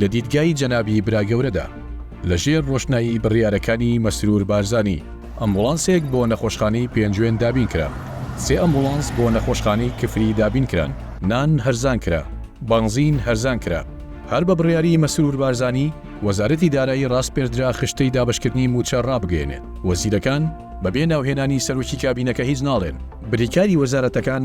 لە دیدگای جەنابی براگەورەدا، لە ژێر ڕۆشنایی بڕیارەکانی مەسرور بارزانی، ئەمبوڵانسێک بۆ نەخۆشخانەی پێنجوێن دابین کرا، سێ ئەمبوڵانس بۆ نەخۆشخانەی کفری دابین کران، نان هەرزان کرا، بەنزین هەرزان کرا، هەر بە بڕیاری مەسرور بارزانی، وەزارەتی دارایی ڕاسپێردرا خشتەی دابەشکردنی مووچە ڕابگەیەنێت، وەزیرەکان بەبێ ناوهێنانی سەرۆکی کابینەکە هیچ ناڵێن، بریکاری وەزارەتەکان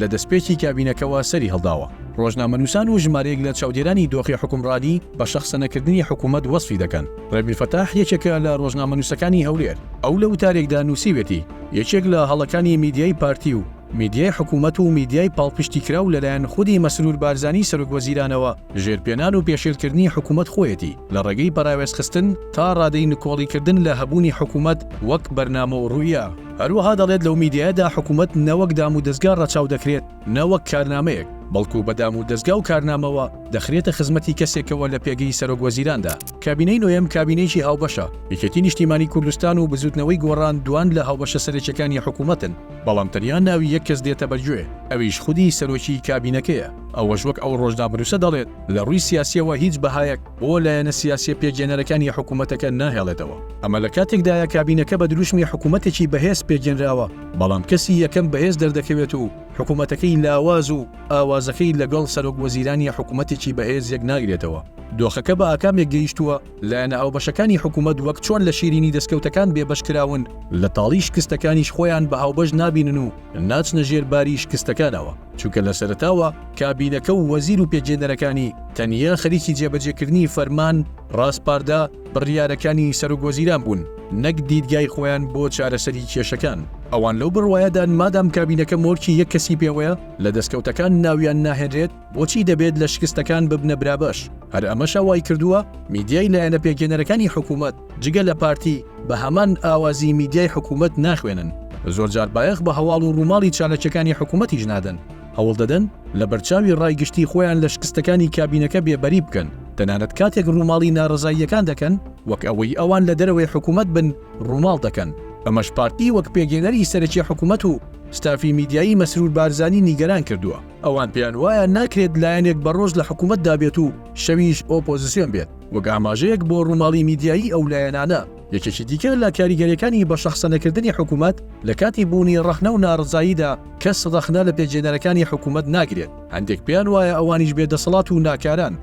لە دەستپێکی کابینەکەوە سەری هەڵداوە. ڕۆژنامەنووسان و ژمارەیەک لە چاودێرانی دۆخی حوکمڕانی بە شەخسەنەکردنی حکوومەت وەسفی دەکەن. ڕێبیر فەتاح یەکێکە لە ڕۆژنامەنووسەکانی هەولێر. ئەو لە وتارێکدا نووسیویەتی، یەکێک لە هەڵەکانی میدیای پارتی و میدیای حکوومەت و میدیای پاڵپشتیکراو لەلایەن خودی مەسرور بارزانی سەرۆکوەزیرانەوە ژێرپێنان و پێشێلکردنی حکوومەت خۆیەتی لە ڕێگەی پەراوێزخستن تا ڕادەی نکۆڵیکردن لە هەبوونی حکوومەت وەک بەرنامە و ڕوئیا. هەروەها دەڵێت لەو میدیایەدا حکومەت نەوەک دام و دەزگا ڕەچاو دەکرێت، نەوەک کارنامەیەک، بەڵکو بە دام و دەزگا و کارنامەوە دەخرێتە خزمەتی کەسێکەوە لە پێگەی سەرۆک وەزیراندا. کابینەی نۆیەم کابینەیەکی هاوبەشە، یەکێتی نیشتیمانی کوردستان و بزوتنەوەی گۆڕان دوان لە هاوبەشە سەرەکیەکانی حکومەتن، بەڵام تەنیا ناوی یەک کەس دێتە بەرگوێ، ئەویش خودی سەرۆکی کابینەکەیە، ئەوەش وەک ئەو ڕۆژنامەنوسە دەڵێت لە ڕوی سیاسیەوە هیچ بەهایەک، بۆ لایەنە سیاسییە پێکهێنەرەکانی حکوومەتەکە ناهێڵێتەوە. ئەمە لە کاتێکدایە کابینەکە بە دروشمی حکوومەتێکی بەهێز پێکهێنراوە، بەڵام کەسی یەکەم بەهێز دەردەکەوێت و حکوومەتەکەی لاواز و ئاوازەکەی لەگەڵ سەرۆکوەزیرانی حکوومەتێکی بەهێز یەک ناگرێتەوە. دۆخەکە بە ئاکامێک گەیشتووە، لایەنە هاوبەشەکانی حکوومەت وەک چۆن لە شیرینی دەستکەوتەکان بێبەش کراون، لە تاڵی شکستەکانیش خۆیان بە هاوبەش نابینن و ناچنە ژێر باری شکستەکانەوە. چونکە لە سەرەتاوە کابینەکە و وەزیر و پێکهێنەرەکانی تەنیا خەریکی جێبەجێکردنی فەرمان، ڕاسپاردە، بڕیارەکانی سەرۆکوەزیران بوون، نەک دیدگای خۆیان بۆ چارەسەری کێشەکان. ئەوان لەو بڕوایەدان مادام کابینەکە مۆرکی یەک کەسی پێوەیە، لە دەستکەوتەکان ناویان ناهێنرێت، بۆچی دەبێت لە شکستەکان ببنە برابەش؟ هەر ئەمەشە وایکردووە میدیای لایەنە پێکهێنەرەکانی حکومەت، جگە لە پارتی بە هەمان ئاوازی میدیای حکوومەت ناخوێنن، زۆرجار بایەخ بە هەواڵ و ڕووماڵی چالاکییەکانی حکوومەتیش نادەن، هەوڵ دەدەن لە بەرچاوی ڕای گشتی خۆیان لە شکستەکانی کابینەکە بێبەری بکەن، تەنانەت کاتێک ڕووماڵی ناڕەزاییەکان دەکەن، وەک ئەوەی ئەوان لە دەرەوەی حکوومەت بن ڕووماڵ دەکەن، ئەمەش پارتی وەک پێگەیەنەری سەرەکی حکوومەت و ستافی میدیایی مەسرور بارزانی نیگەران کردووە. ئەوان پێیان وایە ناکرێت لایەنێک بە ڕۆژ لە حکوومەتدا بێت و شەویش ئۆپۆزسیۆن بێت، وەک ئاماژەیەک بۆ ڕووماڵی میدیایی ئەو لایەنانە. یەکێکی دیکە لە کاریگەرییەکانی بەشەخسەنەکردنی حکوومەت، لە کاتی بوونی ڕەخنە و ناڕەزاییدا کەس ڕەخنە لە پێکهێنەرەکانی حکوومەت ناگرێت، هەندێک پێیان وایە ئەوانیش بێدەسەڵات و ناکاران،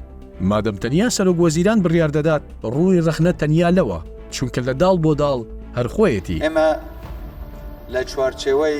مادەم تەنیا سەرۆکوەزیران بڕیار دەدات، ڕووی ڕەخنە تەنیا لەوە، چونکە لە داڵ بۆ داڵ هەر خۆیەتی. ئێمە لە چوارچێوەی.